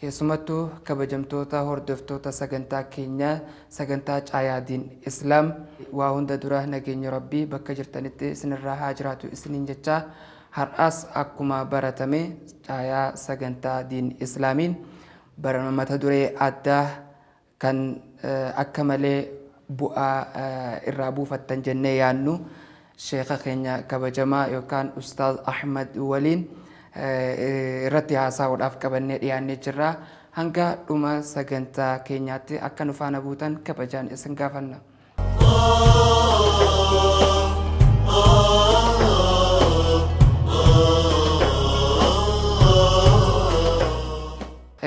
Keessumattuu kabajamtoota hordoftoota sagantaa keenyaa sagantaa Caayaa Diin Islaam waa hunda dura nageenyi Rabbii bakka jirtanitti isinirraa haa jiraatu isiniin jechaa har'aas akkuma baratame caayaa sagantaa Diin Islaamiin barana mata duree addaa kan akka malee bu'aa irraa buufattan jennee yaadnu sheeka keenya kabajamaa yookaan ustaaz Ahmad waliin irratti haasaa'uudhaaf qabannee dhiyaannee jirra. Hanga dhuma sagantaa keenyaatti akka nu faana buutan kabajaan isin gaafanna.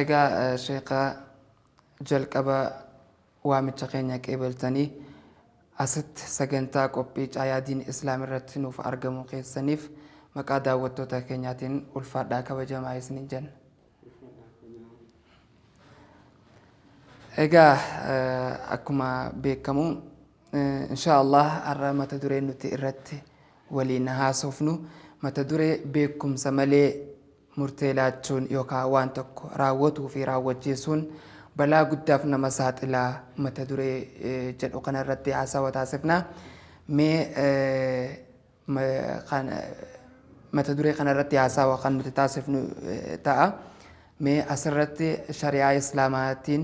Egaa sheeka Jalqaba waamicha keenya qeebeltanii asitti sagantaa qophii Caayaa Diin Islaam irratti nuuf argamuu keessaniif maqaa daawwattoota keenyaatiin ulfaadhaa kabajamaa isiniin jenna. Egaa eh, akkuma beekamu eh, inshaa Allah har'a mata duree nuti irratti waliin haasofnu mata duree beekumsa malee Murtee laachuun yookaa waan tokko raawwatuu fi raawwachiisuun balaa guddaaf nama saaxila mata duree jedhu kana irratti haasawa taasifna. Mee mata duree kana irratti haasawa kan nuti taasifnu ta'a. Mee asirratti shari'aa islaamaatiin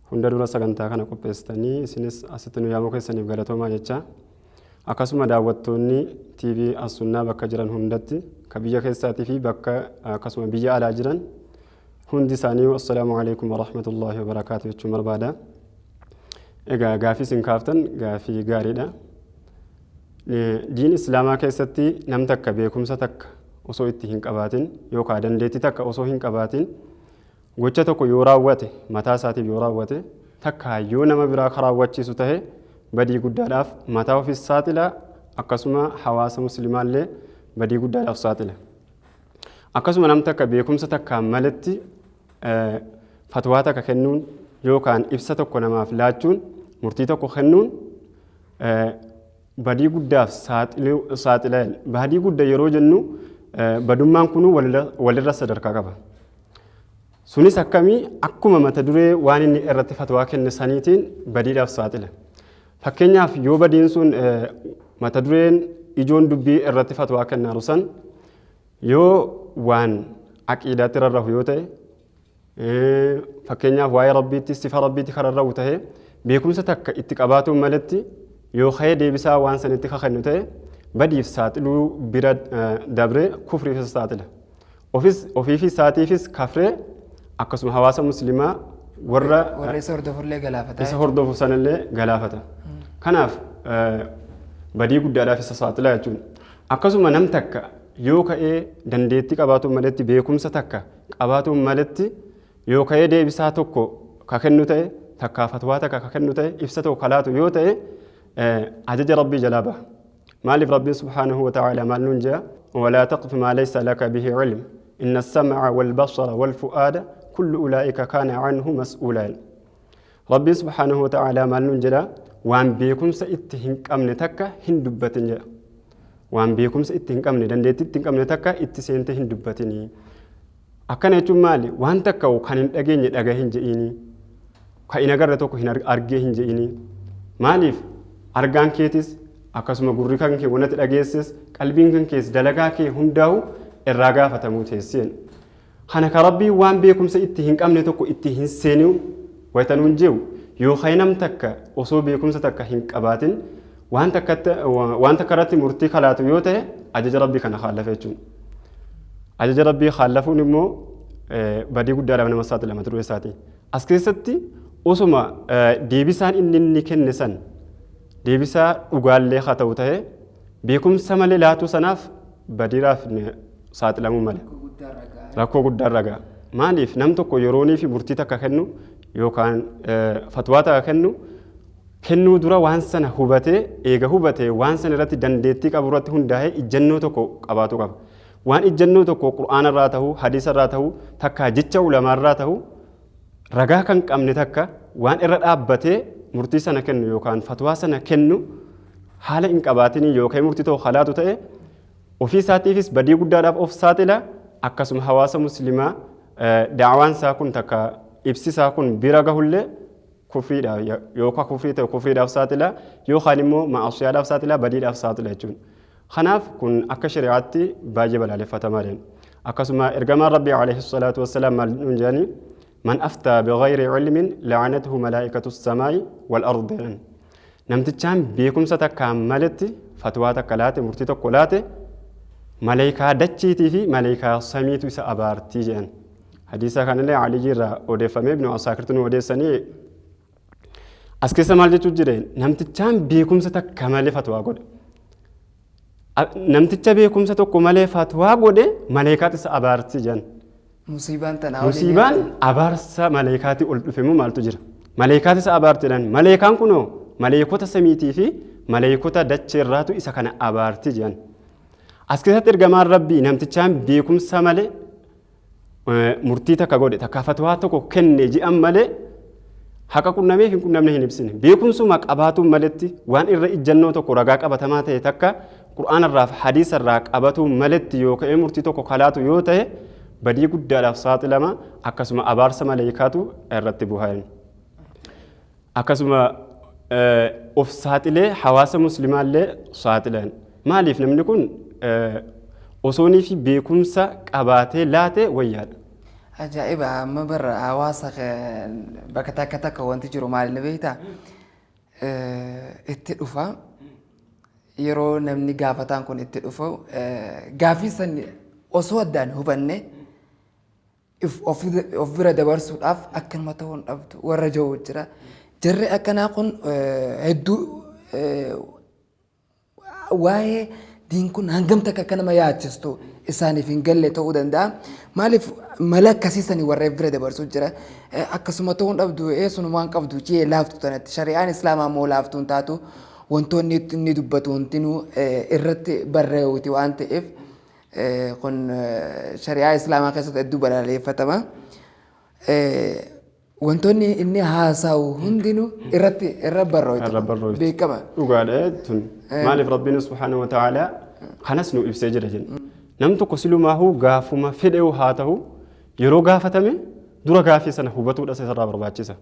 Hunda dura sagantaa kana qopheessitanii isinis asitti nu yaamuu keessaniif galatoomaa jechaa akkasuma daawwattoonni TV Assunnaa bakka jiran hundatti ka biyya keessaatii fi bakka akkasuma biyya alaa jiran hundi isaanii assalaamu alaikum warahmatullaahi wabarakaatu jechuun barbaada. Egaa gaafii isin kaaftan gaafii gaariidha. Diin Islaamaa keessatti nam takka beekumsa takka osoo itti hin qabaatin yookaan dandeettii takka osoo hin qabaatin Gocha tokko yoo raawwate, mataa isaatiif yoo raawwate, takkaa yoo nama biraa ka raawwachiisu tahe, badii guddaadhaaf mataa ofiis saaxila, akkasuma hawaasa muslimaallee badii guddaadhaaf saaxila. Akkasuma nam takka beekumsa takkaan maletti fatwaa takka kennuun yookaan ibsa tokko namaaf laachuun, murtii tokko kennuun, badii guddaaf saaxiluu saaxila jedha. Badii gudda yeroo jennu eh, badummaan kunuu walirra- walirra sadarkaa qaba. Sunis akkamii akkuma mata duree waan inni irratti fatwaa kenne saniitiin badiidhaaf saaxila. Fakkeenyaaf yoo badiin sun eh, mata dureen ijoon dubbii irratti fatwaa kennaaru san yoo waan aqiidaatti rarrahu yoo ta'e Fakkeenyaaf waa'ee Rabbiitti sifa Rabbiitti kan rarra'u ta'e beekumsa takka itti qabaatuun maletti yoo ka'ee deebisaa waan sanitti ka kennu ta'e badiif saaxiluu bira dabree kufriif isa saaxila. Ofis ofiifi isaatiifis kafree akkasuma hawaasa muslimaa warra Warra isa hordofullee galaafata. isa hordofu sanallee galaafata. Kanaaf badii guddaadhaaf isa saaxila jechuudha. Akkasuma nam takka yoo ka'ee dandeettii qabaatuun maletti beekumsa takka qabaatuun maletti yoo ka'ee deebisaa tokko ka kennu ta'e takkaa fatwaa takka ka kennu ta'e ibsa tokko ka laatu yoo ta'e ajaja rabbii jalaa baha maaliif rabbiin subhaanahu wa ta'aala maal nuun jea walaa taqfu maa laysa laka bihi cilm inna assamca walbasara walfu'aada kullu ulaa'ika kaana canhu mas'uulaan Rabbiin subhaanahu wa ta'aalaa maal nuun jedha? Waan beekumsa itti hin qabne takka hin dubbatin jedha. Waan beekumsa itti hin qabne, dandeettii itti hin qabne takka itti seentee hin dubbatinii. Akkana jechuun maali? Waan takka kan hin dhageenye dhaga hin je'iinii. Kan hin agarre tokko hin argee hin je'iinii. Maaliif? Argaan keetis akkasuma gurri kan kee wanatti dhageesses qalbiin kan kees dalagaa kee hundaa'u irraa gaafatamuu teesseen. Kana ka Rabbiin waan beekumsa itti hin qabne tokko itti hin seeniu wayta nuun je'u, yookaay nam takka osoo beekumsa takka hin qabaatin waan takkatti, waan takka irratti murtii ka laatu yoo tahe ajaja Rabbii kana khaalafe jechuun. Ajaja Rabbii khaalafuun immoo badii guddaadhaaf nama saaxila mata duree isaati. As keessatti osoma deebisaan inni inni kenne san deebisaa dhugaallee haa ta'u tahe, Beekumsa malee laatuu sanaaf badiiraaf ni saaxilamuu mala. Rakkoo guddaa irra ga'a. Rakkoo guddaa irra ga'a. Maaliif nam tokko yeroonii fi murtii takka kennu yookaan eh, fatwaa takka kennu kennuu dura waan sana hubatee eega hubatee waan sana irratti dandeettii qabu irratti hundaa'ee ijjannoo tokko qabaatu qaba. Waan ijjannoo tokko qur'aana irraa ta'u, hadiisa irraa ta'u, takkaa jecha ulamaa irraa ta'u ragaa kan qabne takka waan irra dhaabbatee murtii sana kennu yookaan fatwaa sana kennu haala hin qabaatiniin yookaan murtii ta'u halaatu ta'e ofii isaatiifis badii guddaadhaaf of saaxila akkasuma hawaasa muslimaa daawaan isaa kun takka ibsi isaa kun bira gahullee kufriidhaaf yookaan kufrii ta'e kufriidhaaf saaxila yookaan immoo ma'asiyaadhaaf saaxila badiidhaaf saaxila jechuudha. Kanaaf kun akka shari'aatti baay'ee balaaleffatamaadha. Akkasuma ergamaan Rabbii alayhi salaatu wassalaam maal nuun jedhani man aftaa bighayri ilmin la'anathu malaa'ikatu samaa'i wal ard jedhan. Namtichaan beekumsa takkaan maletti fatwaa takka laate murtii tokko laate maleekaa dachiitii fi maleekaa samiitu isa abaartii jedhan. Hadiisa kanallee Aliyyii irraa odeeffamee ibnu Asaakirtu nu odeessanii As keessa maal jechuu jira? Namtichaan beekumsa takka malee fatwaa godhe. A- Namticha beekumsa tokko malee fatwaa godhe maleekaatu isa abaarsi jedhan. Musiibaan tanaa waliin Musiibaan abaarsa maleekaatii ol dhufe immoo maaltu jira? Maleekaati isa abaarti jedhan. Maleekaan kunoo maleekota samiitii fi maleekota dachee irraatu isa kana abaarti jedhan. As keessatti ergamaan rabbii namtichaan beekumsa malee murtii takka godhe takka fatwaa tokko kenne ji'an malee haqa qunnameef hin qunnamne hin ibsine beekumsuma qabaatuun maletti waan irra ijjannoo tokko ragaa qabatamaa ta'e takka qur'aanarraaf hadiisarraa qabatuun maletti yoo ka'ee murtii tokko kalaatu yoo ta'e badii guddaadhaaf saaxilama akkasuma abaarsa maleeykaatu irratti buhaa akkasuma of saaxilee hawaasa muslimaallee saaxilan maaliif namni kun osooniifi beekumsa qabaatee laate wayyaadha. Ajaa'iba amma bar hawaasa bakka takka takka wanti jiru maal ni beektaa? Itti dhufa yeroo namni gaafataan kun itti dhufu gaaffii san osoo addaan hubanne if of bira dabarsuudhaaf akkanuma ta'uu hin dhabdu warra ja'u jira. Jarri akkanaa kun hedduu waa'ee diin kun hangam takka akka nama yaachistu isaaniif hin galle ta'uu danda'a. Maaliif mala akkasii sanii warra if bira dabarsuu jira. Akkasuma ta'uu hin dhabdu eessun waan qabdu jee laaftu tanatti shari'aan islaamaa immoo laaftuu hin taatu wantoonni inni dubbatu hundinuu irratti barreewuti waan ta'eef Kun shari'aa islaamaa keessatti hedduu balaleeffatama. Wantoonni inni haasa'u hundinuu irratti irra barrooytu. Irra barrooytu. Beekama. Dhugaadha tun. Maaliif Rabbiin subhaanahu wa ta'aalaa kanas nu ibsee jira jenna. Nam tokko silumaahuu gaafuma fedheewu haa ta'u yeroo gaafatame dura gaafii sana hubatuudha isa irraa barbaachisa.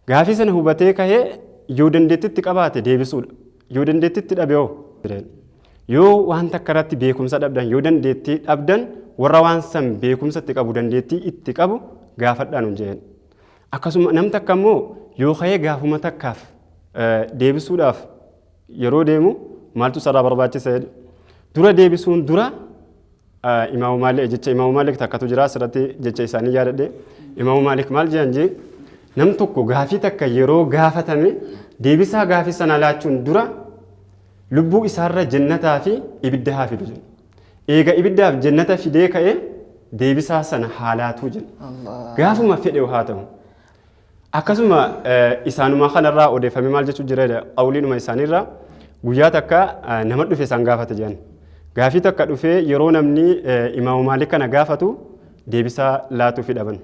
Gaafii sana hubatee kahee yoo dandeettitti qabaate deebisuudha. Yoo dandeettitti dhabe hoo? Yoo waan takka irratti beekumsa dhabdan, yoo dandeettii dhabdan warra waan san beekumsa itti qabu, dandeettii itti qabu gaafadhaa nun jeen. Akkasuma nam takka immoo yoo kahee gaafuma takkaaf deebisuudhaaf yeroo deemu maaltu sarraa barbaachisa jedhu dura deebisuun dura imaamu maalik jecha imaamu maalik takkatu jira asirratti jecha isaanii yaadadhe imaamu maalik maal jedhan jee nam tokko gaafii takka yeroo gaafatame deebisaa gaafii sana laachuun dura lubbuu isaarra jennataa fi ibidda haa fidu jenna. Eega ibiddaaf jennata fidee ka'ee deebisaa sana haa laatuu jenna. Gaafuma fedhe haa ta'u. Akkasuma isaanuma kanarraa odeeffamee maal jechuu jira jedha qawliinuma isaaniirraa guyyaa takka nama dhufe isaan gaafate jedhan. Gaafii takka dhufee yeroo namni imaamu maalik kana gaafatu deebisaa laatuufi dhaban.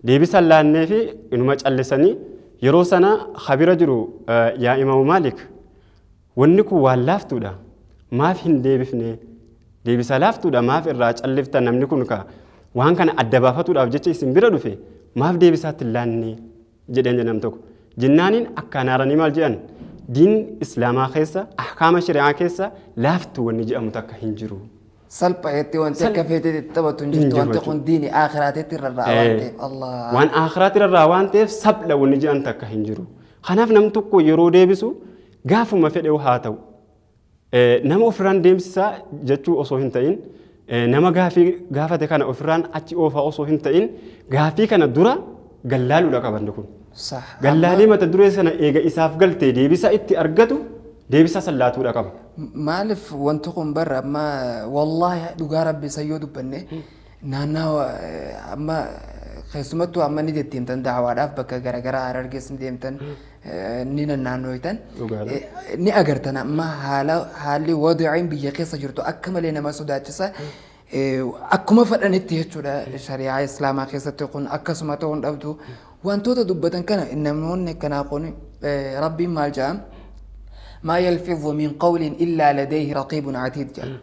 Deebisa laanneefi inuma callisanii yeroo sana habira jiru yaa imaamu maalik Wanni kun waan laaftuudha maaf hin deebifne? Deebisaa laaftuudha maaf irraa calliftan namni kun ka waan kana adda baafatuudhaaf jecha isin bira dhufe maaf deebisaatti hin laanne? jedheen jedhe nam tokko. Jennaaniin akkaan aaranii maal jedhan? Diin Islaamaa keessa ahkaama shari'aa keessa laaftu wanni jedhamu takka hin jiru. Salphaetti wanti Sal- akka feeteetti itti taphatu hin Hin jirtu jiru wanti jechuudha. kun diini aakiraateetti irra irraa waan Eh, ta'eef Allah. Waan aakiraatti irraa waan ta'eef sabla wanni jedhan takka hin jiru. Kanaaf nam tokko yeroo deebisu Gaafuma fedhew haa ta'u. Nama ofirraan deemsisaa jechuu osoo hin ta'in nama gaafii gaafate kana ofirraan achi oofaa osoo hin ta'in gaafii kana dura gallaaluudha qabanni kun. Sah. Amma Gallaalee mata duree sana eega isaaf galtee deebisaa itti argatu deebisaa san laatuudha qaba. maaliif wanti kun barra amma wallaahi dhugaa rabbi san yoo dubbanne Naannawa amma keessumattuu amma ni deddeemtan daawaadhaaf bakka garaagaraa harargees ni deemtan ni nannaannooytan ni agartan amma haala haalli wadaciin biyya keessa jirtu akka malee nama sodaachisa. Akkuma fadhanitti jechuudha shari'aa islaamaa keessatti kun akkasuma ta'uu hin dhabdu wantoota dubbatan kana namoonni akkanaa kun rabbiin maal jedha maa yalfidhu min qawlin illaa ladayhi raqiibun atiid jedha.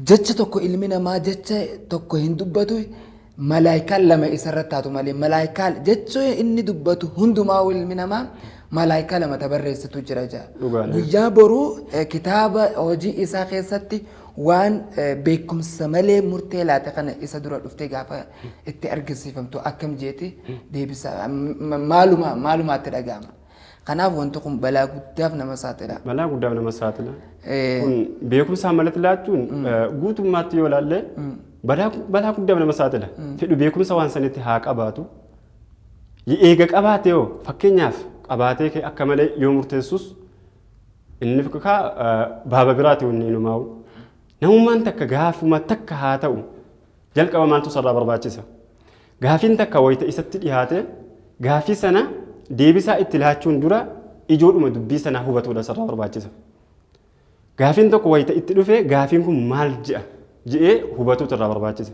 Jecha tokko ilmi namaa jecha tokko hin dubbatu malaaykaan lama isa irratti taatu malee malaaykaa jecha inni dubbatu hundumaa ilmi namaa malaaykaa lama ta barreessitu jira jaa. Dhugaadha. Guyyaa boruu eh, kitaaba hojii isaa keessatti waan eh, beekumsa malee murtee laate kana isa dura dhuftee gaafa itti argisiifamtu akkam jeeti deebisa M- m- maaluma maalumaatti dhaga'ama. Kanaaf wanti kun balaa guddaaf nama saaxila. Balaa guddaaf nama saaxila. Kun beekumsaan malatti laachuun guutummaatti yoo ilaalle balaa guddaaf nama saaxila. Fedhu beekumsa waan sanitti haa qabaatu. Eega qabaate yoo fakkeenyaaf qabaatee kee akka malee yoo murteessus inni kaa baaba biraati wanni inumaa'u. Namummaan takka gaafuma takka haa ta'u jalqaba maaltu sarraa barbaachisa. Gaafiin takka wayta isatti dhihaate gaafii sana deebisaa itti laachuun dura ijoodhuma dubbii sanaa hubatuudha isarraa barbaachisa. Gaafiin tokko wayta itti dhufe gaafiin kun maal je'a je'ee hubatuutu irraa barbaachisa.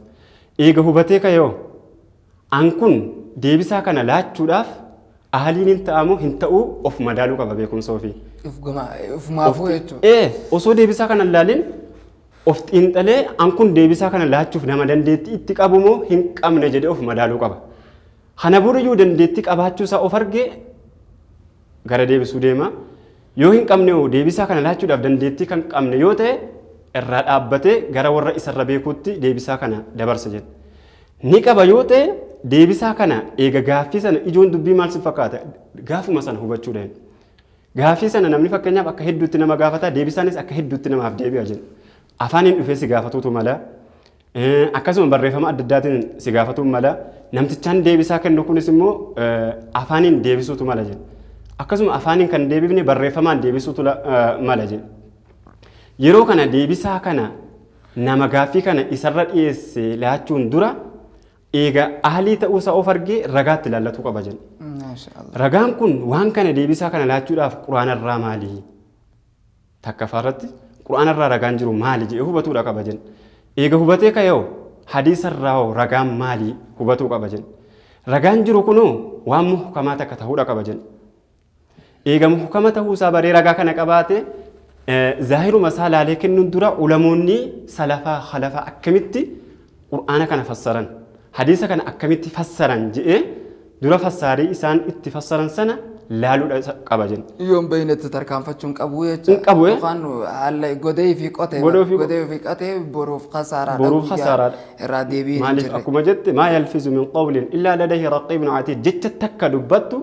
Eega hubatee ka'eeho an kun deebisaa kana laachuudhaaf ahaliin hin ta'amoo hin ta'uu of madaaluu qaba beekumsa ofii. Of gama ofumaafuu jechuudha. Ee osoo deebisaa kana hin laalin Of xiinxalee an kun deebisaa kana laachuuf nama dandeettii itti qabu moo hin qabne jedhee of madaaluu qaba. Kana boriyyuu dandeettii qabaachuu isaa of argee gara deebisuu deema. Yoo hin qabne hoo deebisaa kana laachuudhaaf dandeettii kan qabne yoo ta'e irraa dhaabbatee gara warra isarra beekuutti deebisaa kana dabarsa jedha. Ni qaba yoo ta'e deebisaa kana eega gaaffii sana ijoon dubbii maal si fakkaata gaafuma sana hubachuu dandeenya. Gaaffii sana namni fakkeenyaaf akka hedduutti nama gaafata, deebisaanis akka hedduutti namaaf deebi'a jenna. Afaaniin dhufee si gaafatuutu mala. Akkasuma barreeffama adda addaatiin si gaafatuun mala. Namtichaan deebisaa kennu kunis immoo afaaniin deebisuutu mala jenna. Akkasuma afaaniin kan deebifne barreeffamaan deebisuutu mala jenna. Yeroo kana deebisaa kana nama gaaffii kana isarra dhiyeesse laachuun dura Eega ahlii ta'uusaa of argee ragaatti ilaallatuu qaba jenna. Maashaallah. Ragaan kun waan kana deebisaa kana laachuudhaaf quraanarraa maali? Takkafaarratti quraanarraa ragaan jiru maali jedhee hubatuudha qaba jenna. Eega hubatee ka'eeho hadiisarraa hoo ragaan maali hubatuu qaba jenna. Ragaan jiru kunoo waan muhkamaa takka ta'uudha qaba jenna. eegamu hukama ta'uu isaa baree ragaa kana qabaate zaahiruma isaa laalee kennuun dura ulamoonni salafaa halafaa akkamitti qur'aana kana fassaran hadiisa kana akkamitti fassaran je'ee dura fassaarii isaan itti fassaran sana laaluudha isa qaba jenna. Yoon beeynetti tarkaanfachuun qabu jecha. Hin qabu, eh? Yookaan haala godee fi qotee. Godee fi- Godee fi qotee boruuf kasaaraadha. Boruuf guyyaa kasaaraadha. Irraa deebiin hin maaliif jirre. akkuma jette maa yalfizu min qawlin illaa ladayhi raqiibun atiid jecha takka dubbattu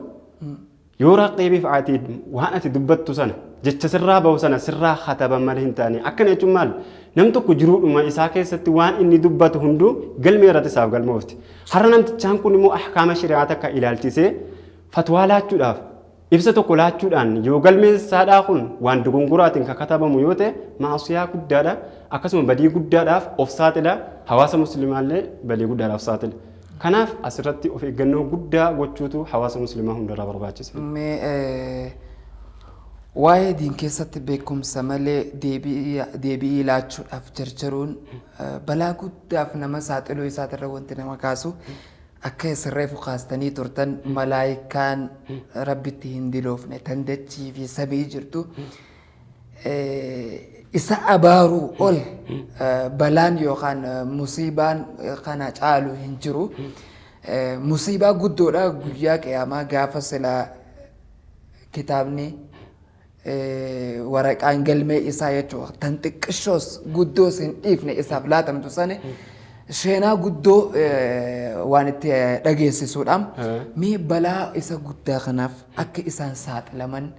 Yoo raqiibiif atiid waan ati dubbattu sana jecha sirraa bahu sana sirraa kataban malee hin taane akkana jechuun maal nam tokko jiruudhuma isaa keessatti waan inni dubbatu hunduu galmee irratti isaaf galmoofti har'a namtichaan kun immoo ahkaama shari'aa takka ilaalchisee fatwaa laachuudhaaf ibsa tokko laachuudhaan yoo galmeen saadhaa kun waan dogongoraatiin kan katabamu yoo ta'e maasiyaa guddaadha akkasuma badii guddaadhaaf of saaxila hawaasa muslimaallee badii guddaadhaaf saaxila Kanaaf as irratti of eeggannoo guddaa gochuutu hawaasa muslimaa hundarraa barbaachisa. Mee waa'ee diin keessatti beekumsa malee deebi'ii laachuudhaaf jarjaruun balaa guddaaf nama saaxiluu isaatirra wanti nama kaasu akka isin reefu kaastanii turtan malaayikaan rabbitti hin diloofne tan dachii fi samii jirtu isa abaaruu ol balaan yookaan musiibaan kana caalu hin jiru. Musiibaa guddoodha guyyaa qiyaamaa gaafa silaa kitaabni waraqaan galmee isaa jechuudha. Tan xiqqishoos guddoos hin dhiifne isaaf laatamtu sani seenaa guddoo waan itti dhageessisuudha. Mee balaa isa guddaa kanaaf akka isaan saaxilaman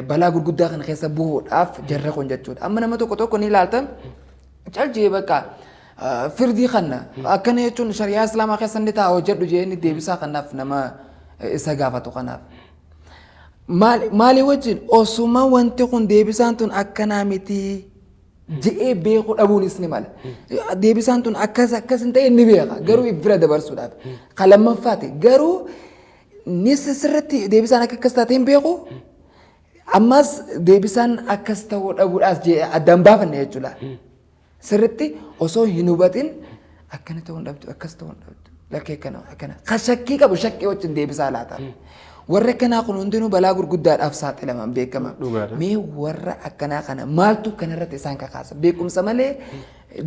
balaa gurguddaa kana keessa bu'uudhaaf jarri kun jechuudha. Amma nama tokko tokko ni ilaaltan calcee bakka firdii kanna akkana jechuun shari'aa islaamaa keessa ni ta'a hojjedhu jedhanii deebisaa kanaaf nama isa gaafatu kanaaf. Maalii wajjin osuma wanti kun deebisaan tun akkanaa miti je'ee beekuu dhabuunis ni mala. Deebisaan tun akkas akkas hin ta'e ni beeka garuu bira dabarsuudhaaf. Kan lammaffaati garuu Innis sirriitti deebisaan akka akkas taatee hin beeku. Ammas deebisaan akkas ta'uu dhabuudhaas jee addaan baafanne jechuudha. Sirriitti osoo hin hubatin akkana ta'uu hin dhabdu akkas ta'uu hin dhabdu lakkee akkana akkana kan shakkii qabu shakkii wajjin deebisaa laata. Warri akkanaa kun hundinuu balaa gurguddaadhaaf saaxilaman beekama. Dhugaadha. Mee warra akkanaa kana maaltu kanarratti isaan kakaasa beekumsa malee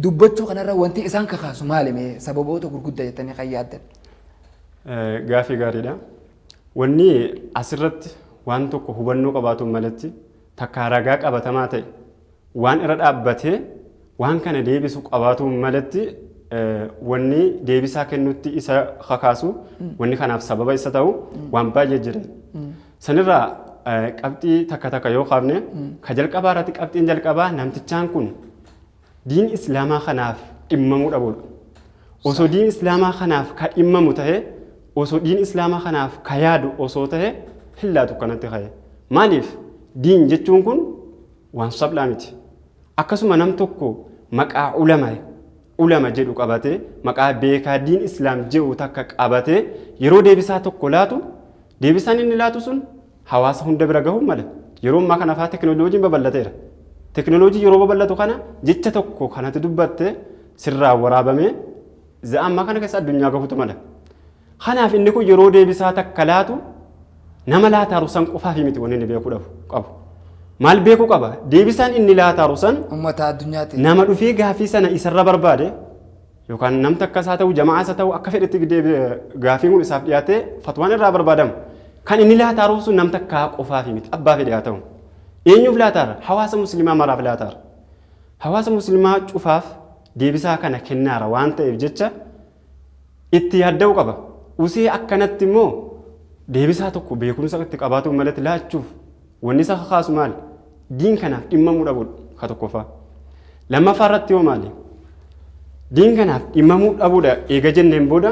dubbachuu kanarra wanti isaan kakaasu maali mee sababoota gurguddaa jettanii kan yaaddan. Gaafii gaariidha. Wanni asirratti waan tokko hubannoo qabaatuun malatti takkaa ragaa qabatamaa ta'e waan irra dhaabbatee waan kana deebisu qabaatuun malatti wanni deebisaa kennutti isa kakaasu wanni kanaaf sababa isa ta'u waan baay'ee jira. Sanirraa qabxii takka takka yoo kaafne ka jalqabaa irratti qabxiin jalqabaa namtichaan kun diin islaamaa kanaaf dhimmamuu dhabuudha. Osoo diin islaamaa kanaaf ka dhimmamu ta'e, osoo diin islaamaa kanaaf ka yaadu osoo ta'e hin laatu kanatti ka'e. Maaliif? Diin jechuun kun waan saphlaa miti. Akkasuma nam tokko maqaa ulama ulama jedhu qabatee maqaa beekaa diin islaam jedhu takka qabatee yeroo deebisaa tokko laatu deebisaan inni laatu sun hawaasa hunda bira gahuu mala. Yeroo ammaa kana faa teknoloojiin babal'ateera. Teknoloojii yeroo babal'atu kana jecha tokko kan ati dubbatte sirraa waraabamee za'a ammaa kana keessa addunyaa gahuutu mala. Kanaaf inni kun yeroo deebisaa takka laatu nama laataaru san qofaafii miti wanni inni beekuu dhabu qabu. Maal beekuu qaba? Deebisaan inni laataaru san Ummata addunyaati. nama dhufee gaaffii sana isarra barbaade yookaan nam takkas haa ta'u jama'aas haa ta'u akka fedhetti gaafiin kun isaaf dhiyaatee fatwaan irraa barbaadamu kan inni laataaruuf sun nam takkaa qofaafi miti abbaa fedhe haa ta'u eenyuuf laataara hawaasa muslimaa maraaf laataara hawaasa muslimaa cufaaf deebisaa kana kennaara waan ta'eef jecha itti yaadda'uu qaba usee akkanatti immoo deebisaa tokko beekumsa itti qabaatuun malatti laachuuf Wanni isa kakaasu maali? Diin kanaaf dhimmamuu dhabuudha ka tokkoffaa. Lammaffaa irratti yoo maali? Diin kanaaf dhimmamuu dhabuudha eega jenneen booda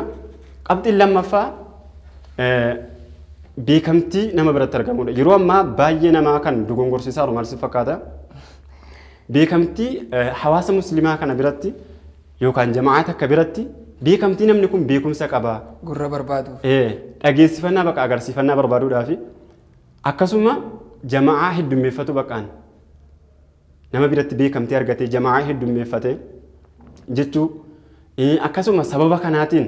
qabxiin lammaffaa beekamtii nama biratti argamuudha. Yeroo ammaa baay'ee namaa kan dogongorsiisaa jiru maal si fakkaata? Beekamtii hawaasa muslimaa kana biratti yookaan jama'aa takka biratti beekamtii namni kun beekumsa qabaa. Gurra barbaadu. Dhageessifannaa bakka agarsiifannaa barbaaduudhaa fi Akkasuma jama'aa heddummeeffatu baqaan nama biratti beekamtii argatee jama'aa heddummeeffate jechuu Eh, akkasuma sababa kanaatiin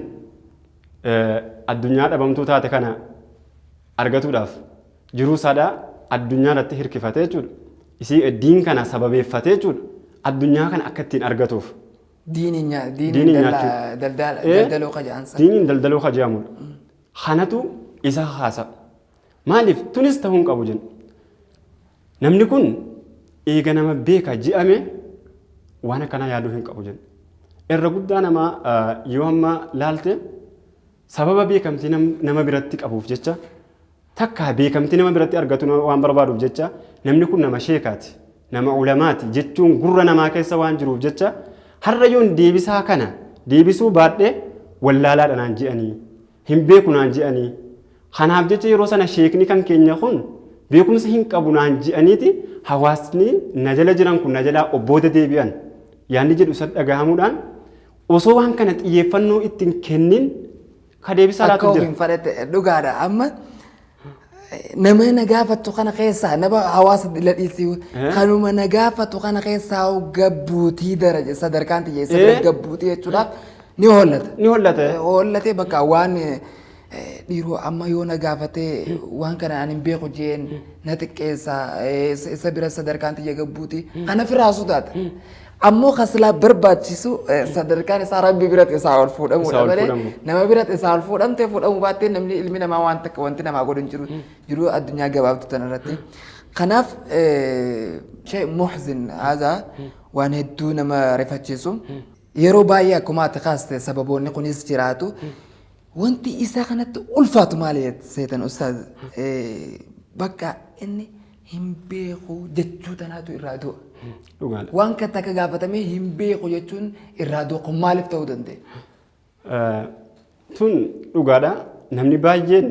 eh, addunyaa dhabamtuu taate kana argatuudhaaf jiruu sadaa addunyaa irratti hirkifate jechuudha. Isii eh, diin kana sababeeffate jechuudha. Addunyaa kana akka ittiin argatuuf. Diiniin nyaa- diiniin Diiniin dalla- nyaachuu. daldaala- Eh, daldaloo ka ja'an san. Diiniin daldaloo ka jedhamudha. kanatu isa kakaasa. Maaliif tunis ta'uu hin qabu jenna. Namni kun eega nama beeka je'ame waan akkanaa yaaduu hin qabu jenna. Irra guddaa namaa yoo amma laalte sababa beekamtii nama biratti qabuuf jecha takka beekamtii nama biratti argatu waan barbaaduuf jecha namni kun nama sheekaati Nama ulamaati jechuun gurra namaa keessa waan jiruuf jecha har'a yoon deebisaa kana deebisuu baadhe wallaalaadha naan je'anii. Hin beeku naan je'anii. Kanaaf jecha yeroo sana sheekni kan keenya kun beekumsa hin qabu naan je'aniiti hawaasni na jala jiran kun na jalaa of booda deebi'an yaanni jedhu isa dhagahamuudhaan osoo waan kana xiyyeeffannoo itti hin kennin Ka deebisaa laatu Akka jira. ofiin fadhate dhugaadha. Amma nama na gaafatu kana keessaa nama hawaasa ila dhiisii Eh? kanuma na gaafatu kana keessaa hoo gabbuutii daraja sadarkaan tiyya isa bira Eh? gabbuutii jechuudhaaf ni hollata. Ni hollata. Eh, Hollatee bakka waan eh, dhiiroo amma yoo na gaafatee waan kana ani hin beeku jeen na xiqqeessa eh, isa isa bira sadarkaan tiyya gabbuutii kana firaa sodaata. Ammoo kan silaa barbaachisu eh, sadarkaan isaa rabbi biratti isaa ol Isaa fuudhamuudha ol malee fuudhamu. nama biratti isaa ol fuudhamtee fuudhamuu baattee namni ilmi namaa waan takka wanti namaa godhu hin jiru jiruu addunyaa gabaabdu tana irratti. Kanaaf eh, shee muhzin haazaa waan hedduu nama rifachiisu yeroo baay'ee akkuma ati kaaste sababoonni kunis jiraatu wanti isaa kanatti ulfaatu maali seetan ustaaz Eh, bakka inni hin beeku jechuu tanaatu irraa du'a. Dhugaadha. Waan kan takka gaafatamee hin beeku jechuun irraa du'a kun maaliif ta'uu danda'e? Eh, Tun dhugaadha. Namni baay'een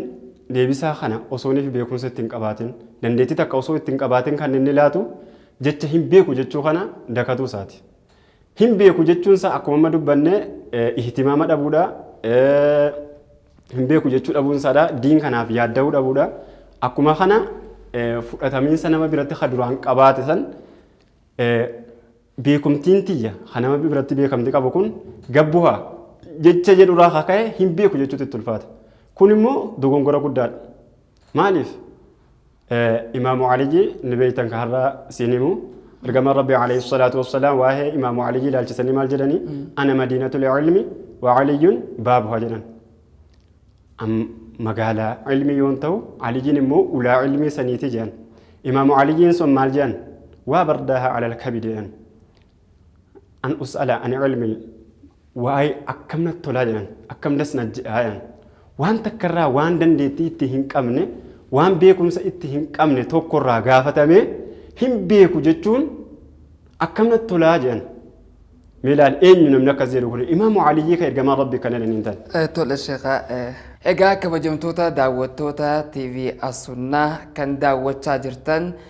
deebisaa kana osoo inni beekumsa ittiin qabaatin dandeettii takka osoo ittiin qabaatin kan inni laatu jecha hin beeku jechuu kana dakatuu isaati. Hin beeku jechuun isaa akkuma amma dubbanne ihtimaama dhabuudha. Hin beeku jechuu dhabuun isaadha. Diin kanaaf yaadda'uu dhabuudha. Akkuma kana fudhatamiinsa nama biratti ka duraan qabaate san beekumtiin tiyya ka nama biratti beekamti qabu kun gabbuha jecha jedhurraa ka ka'e hin beeku jechuutti itti ulfaata. Kun immoo dogongora guddaadha. Maaliif? Imaamu Aliyyi ni beektan ka har'a siin himu. Ergamaan Rabbii alayhi salaatu wassalaam waa'ee Imaamu Aliyyi ilaalchisanii maal jedhanii? Ana madiinatul ilmi wa Aliyyun baabuha jedhan. Am- Magaalaa ilmii yoon ta'u Aliyyiin immoo ulaa ilmii saniiti jedhan. Imaamu Aliyyiin sun maal jedhan? Waa bardaaha alal kabidi jedhan. an us'ala an ilmi waa'ee akkam natti tolaa jedhan akkam das na jedhaa jedhan waan takka irraa waan dandeettii itti hin qabne waan beekumsa itti hin qabne tokko irraa gaafatamee hin beeku jechuun akkam natti tolaa jedhan mee ilaali eenyu namni akkas jedhu kun imaamu aliyyii ka ergamaa rabbi kana jedhaniin tan Eh, Tole sheekaa. eh, Egaa kabajamtoota daawwattoota TV As-Sunnaa kan daawwachaa jirtan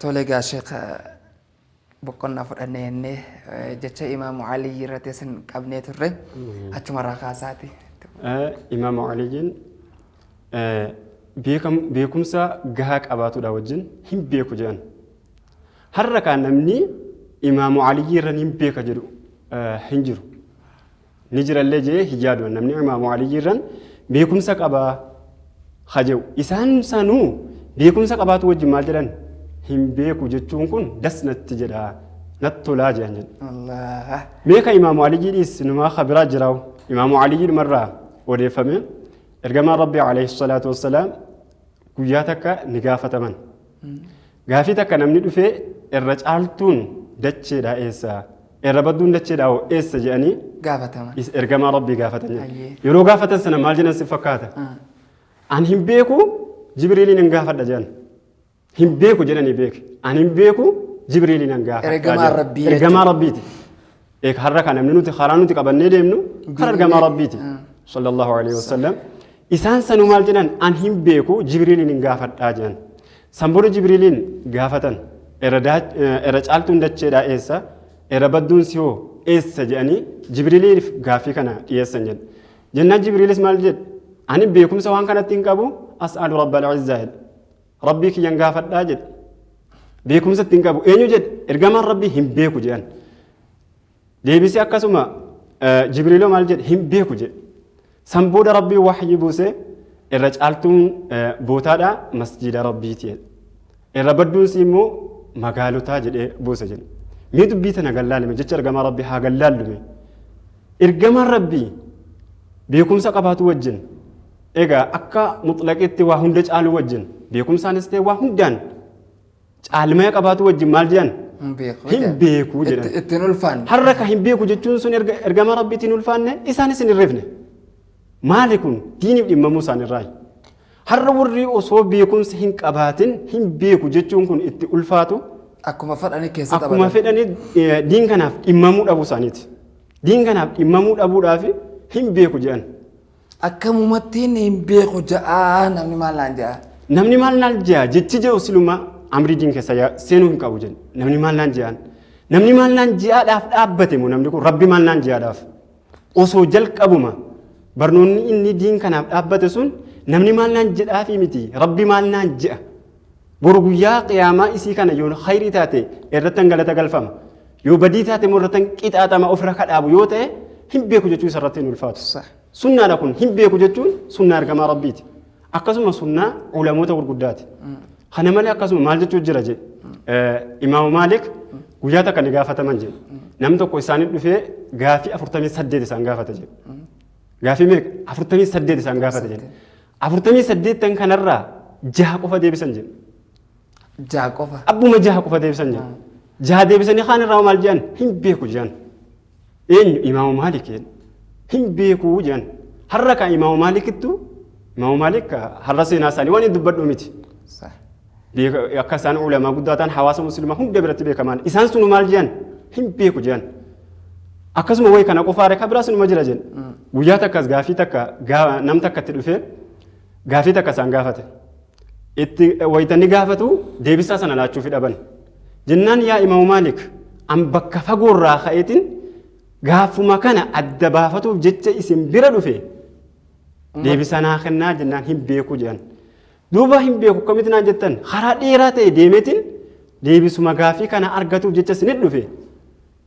Tole egaa Sheekh boqonnaa fudhanne jennee jecha Imaamu Aliyyi irratti isin qabnee turre achumarraa kaasaati. Imaamu Aliyyiin beekumsa gahaa qabaatudha wajjin hin beeku jedhan. Har'a kaan namni Imaamu Aliyyi irra hin beeka jedhu hin jiru. ni jirallee jee hin yaadu an namni imaamu aliyyi irran beekumsa qabaa ha je'u isaan sanuu beekumsa qabaatu wajjin maal jedhan hin beeku jechuun kun das natti jedha natti tolaa je'an jedhe Allah. mee ka imaamu aliyyii dhiis numaa ka biraa jiraawu imaamu aliyyii dhumarraa odeeffame ergamaan rabbii alayhi salaatu wassalaam guyyaa takka ni gaafataman Gaafii takka namni dhufee irra caaltuun dacheedhaa eessa? Irra badduun dacheedhaa hoo eessa jedhanii Gaafataman. is ergamaa rabbii gaafatan jedhe. Ayyee. Yeroo gaafatan sana maal jedhan si fakkaata? Ah. An hin beeku Jibriiliin hin gaafadha jedhan. Hin beeku jedhanii beeke. An hin beeku Jibriiliin hin gaafadha. Ergamaa jedhan. Rabbii Ergamaa jechuudha. rabbiiti. Eeg har'a kan namni nuti karaa nuti qabannee deemnu kan argamaa Rabbiiti. Ah. Sallallahu alaihi wasallam. Isaan sanuu maal jedhan an hin beeku Jibriiliin hin gaafadhaa jedhan. San booda Jibriiliin gaafatan era daa- eh, era caaltuun dacheedhaa eessa era badduun si hoo eessa jedhanii Jibriiliif gaaffii kana dhiyeessan jedhe. Jennaan Jibriilis maal jedhe ani beekumsa waan kanatti hin qabu as'aalu rabbal izzaa jedhe. Rabbii kiyyan gaafadhaa jedhe. Beekumsa itti hin qabu. Eenyu jedhe? Ergamaan Rabbii hin beeku jedhan. Deebisee akkasuma eh, Jibriiloo maal jedhe? Hin beeku jedhe. San booda Rabbii wahyii buusee irra caaltuun eh, bootaadha masjiida Rabbiiti jedhe. Irra badduunsi immoo magaalotaa jedhee buusa jedhe. Mee dubbii tana gallaalime jecha ergamaa Rabbii haa gallaallume. Ergamaan Rabbii beekumsa qabaatu wajjin Egaa akka muxlaqiitti waa hunda caaluu wajjin beekumsaanis ta'e waa hundaan caalmaya qabaatu wajjin maal jedhan? Hin beeku. Hin jedhan. beeku Itti- jedhan. Ittiin ulfaanne. Har'a ka hin beeku jechuun sun erga ergama rabbiitiin ulfaanne isaanis hin irreefne. Maali kun diiniif dhimmamuu isaanirraayi. Har'a warri osoo beekumsa hin qabaatin hin beeku jechuun kun itti ulfaatu Akkuma fedhanii keessa akkuma taphatan. fedhanii eh, diin kanaaf dhimmamuu dhabuu isaaniiti. Diin kanaaf dhimmamuu dhabuudhaaf hin beeku jedhan. Akkamumattiin hin beeku ja'a namni maal naan ja'a. Namni maal naan ja'a jechi jedhu siluma amrii diin keessa ya- seenuu hin qabu jenna. Namni maal naan ja'an. Namni maal naan ja'aadhaaf dhaabbate moo namni kun rabbi maal naan ja'aadhaaf. Osoo jalqabuma barnoonni inni diin kanaaf dhaabbate sun namni maal naan jedhaafii miti rabbi maal naan ja'a Boru guyyaa qiyaamaa isii kana yoo khayrii taate irrattan galata galfama. Yoo badii taate immoo irrattan qixaaxama ofirra kadhaabu yoo ta'e hin beeku jechuun isarratti hin ulfaatu. Sunnaadha kun hin beeku jechuun sunnaa ergamaa rabbiiti. Akkasuma sunnaa ulamoota gurguddaati. Kana malee akkasuma maal jechuun jira jedhe. Imaamu Maalik guyyaa takka ni gaafataman jedhe. Namni tokko isaanii dhufee gaafii afurtamii saddeet isaan gaafata jedhe. Gaafii meeqa? Afurtamii saddeet isaan gaafata jedhe. afurtamii saddeettan kanarraa jaha qofa deebisan jedhe. Jaha qofa. Abbuma jaha qofa deebisan jedhe. Jaha deebisanii kaan irraa maal jedhan hin beeku jedhan. Eenyu imaama maalik jedhan. Hin beeku jedhan. Har'a kan imaama maalikittu imaama maalik har'a seenaa isaanii waan hin dubbadhu miti. akka isaan ulamaa guddaa ta'an hawaasa musliimaa hunda biratti beekamaan isaan sunu maal jedhan hin beeku jedhan akkasuma wayi kana qofaare kan biraa sunuma jira jedhan guyyaa takkas gaafii takka gaa- nam takka itti dhufee gaafii takka isaan gaafate itti waytanni gaafatu deebisaa sana laachuuf dhaban jennaan yaa imamu maalik an bakka fagoorraa ka'eetiin gaafuma kana adda baafatuuf jecha isin bira dhufe deebisaa naa kennaa jennaan hin beeku jedhan Duuba hin beeku akkamitti naan jettan karaa dheeraa ta'e deemeetiin deebisuma gaafii kana argatuuf jecha isinit dhufe.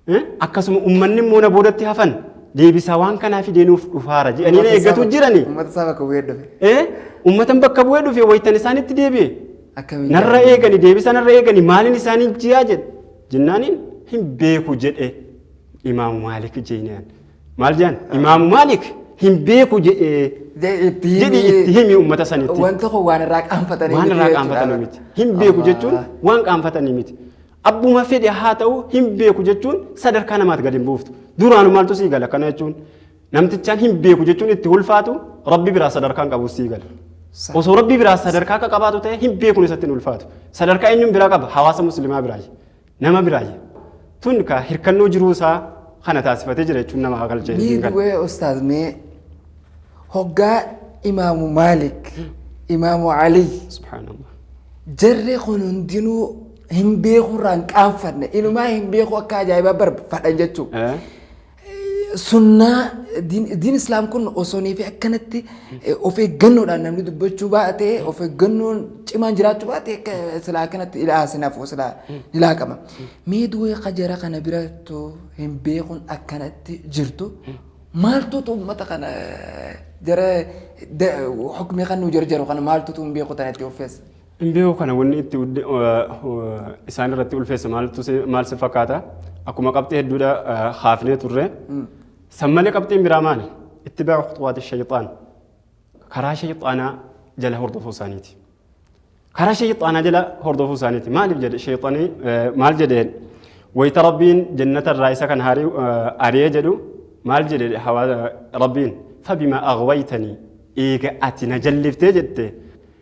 Eh, Akkasuma uummanni immoo na boodatti hafan deebisaa waan kanaa fideenuuf dhufaara jedhanii na eeggatu jirani. Uummata isaa bakka bu'ee dhufe. Eh, Uummatan bakka bu'ee dhufe waytan isaanitti deebi'e. Akkamiin Narra gaafii? eegani deebisa narra eegani maaliin isaanii jiyaa jedhe jennaaniin hin beeku jedhe imaamu maalik jeenaan. Maal jedhan? Imaamu Maalik hin beeku jedhee jedhi itti himi uummata sanitti. Waan tokko waan irraa qaanfatanii Waan irraa qaanfatanii miti. Hin beeku jechuun waan qaanfatanii miti. Abbuma fedhe haa ta'u hin beeku jechuun sadarkaa namaatti gadi hin buuftu. Duraanu maaltu sii gala kana jechuun namtichaan hin beeku jechuun itti ulfaatu rabbi biraa sadarkaan qabu sii gala. Osoo rabbi biraa sadarkaa akka qabaatu ta'e hin beekun isatti hin ulfaatu. Sadarkaa eenyuun biraa qaba hawaasa musliimaa biraa. Nama biraayya. Tun ka hirkannoo jiruu isaa kana taasifatee jira jechuun nama hagalcha Mee hin galu. du'ee ustaaz mee hoggaa imaamu Maalik, imaamu Aliy Subhaanallah. jarri kun hundinuu hin beeku irraa hin qaanfanne inumaa hin beeku akka ajaa'ibaa barbaadan jechuudha. Eh? Sunnaa diin diin islaam kun osoonii fi akkanatti eh, of eeggannoodhaan namni dubbachuu baate of eeggannoon cimaan jiraachuu baate akka silaa kanatti ilaa sinafu silaa ilaa qaba. Mee duwee kajara kana birattu hin beekun akkanatti jirtu maaltuutu uummata kana eh, jara da- hukmii kan nu jarjaru kana maaltuutu hin beeku tanatti offeessa. Hin beeku kana wanni itti udde- eh, eh, isaan irratti ulfeesse maaltu si- maal si fakkaata? Akkuma qabxii hedduudha eh, haafnee turre. San malee qabxiin biraa maali? Itti baa khuxuwaati shayxaan. Karaa shayxaanaa jala hordofuu isaaniiti. Karaa shayxaanaa jala hordofuu isaaniiti. Maaliif jedhe shayxanii eh, maal jedheen? Wayita Rabbiin jannata irraa isa kan haari- eh, ari'ee jedhu maal jedhe hawaa- Rabbiin? Fabimaa aghwaytanii eega ati na jalliftee jette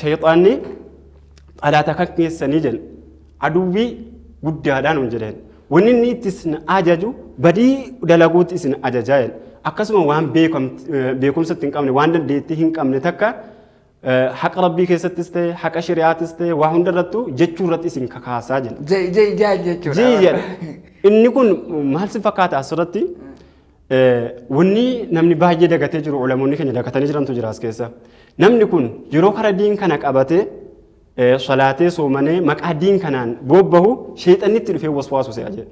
Shayxaanni xalaata kan keessanii jedhan aduwwii guddaadhaan hin jedhan. Wanni inni itti isin ajaju badii dalaguutti isin ajajaa jedhan. Akkasuma waan beekumsa itti hin qabne waan dandeettii hin qabne takka haqa rabbii keessattis ta'e haqa shari'aatis ta'e waa hundarrattuu jechuu irratti isin kakaasaa jedhan. Jee jee jaa jechuudha. Jii jedha. Inni kun maal si fakkaata asirratti? Wanni namni baay'ee dagatee jiru ulamoonni keenya dagatanii jirantu jira as keessa. Namni kun yeroo kara diin kana qabatee salaatee soomanee maqaa diin kanaan boobbahu sheexanni itti dhufee waswaasu se'a jedhe.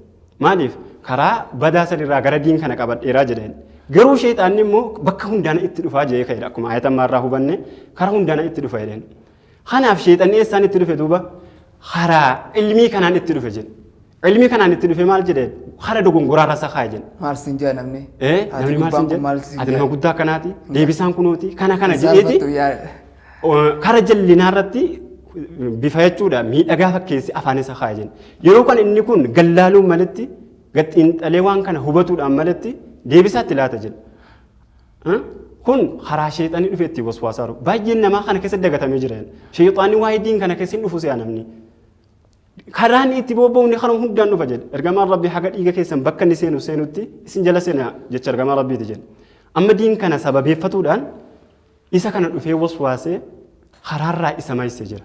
Maaliif karaa badaa sanirraa gara diin kana qabadheeraa jedheen. Garuu sheexaanni immoo bakka hundaana itti dhufaa jedhee ka'edha. Akkuma ayata ammaarraa hubanne karaa hundaana itti dhufa jedheen. Kanaaf sheexanni eessaan itti dhufe duuba karaa ilmii kanaan itti dhufe jedhe. Ilmii kanaan itti dhufe maal jedhe karaa dogongoraarra isa kaa'e jedhe. Maal siin jaa namni? Eh, Ati namni maal gubbaan siin kun maal jedhe? siin Ati nama jaa? guddaa akkanaati. Deebisaan kunooti. Kana kana Isaan jedheeti. battu yaa- eh, Kara jallinaa irratti bifa jechuudha miidhagaa fakkeessi afaan isa kaa'e jenna. Yeroo kan inni kun gallaaluun maletti gaxiinxalee waan kana hubatuudhaan maletti deebisaatti laata jenna. Kun karaa sheexanni dhufe itti waswaasaa jiru. Baay'een namaa kana keessa dagatamee jira. Sheexanni waa'ee diin kana keessa hin dhufu si'a namni. Karaan itti bobba'uun kana hundaan dhufa jedhe. Ergamaan Rabbii haga dhiiga keessan bakka inni seenu seenutti isin jala seena jecha ergamaa Rabbiiti jedhe. Amma diin kana sababeeffatuudhaan isa kana dhufee waswaasee karaarraa isa maayisee jira.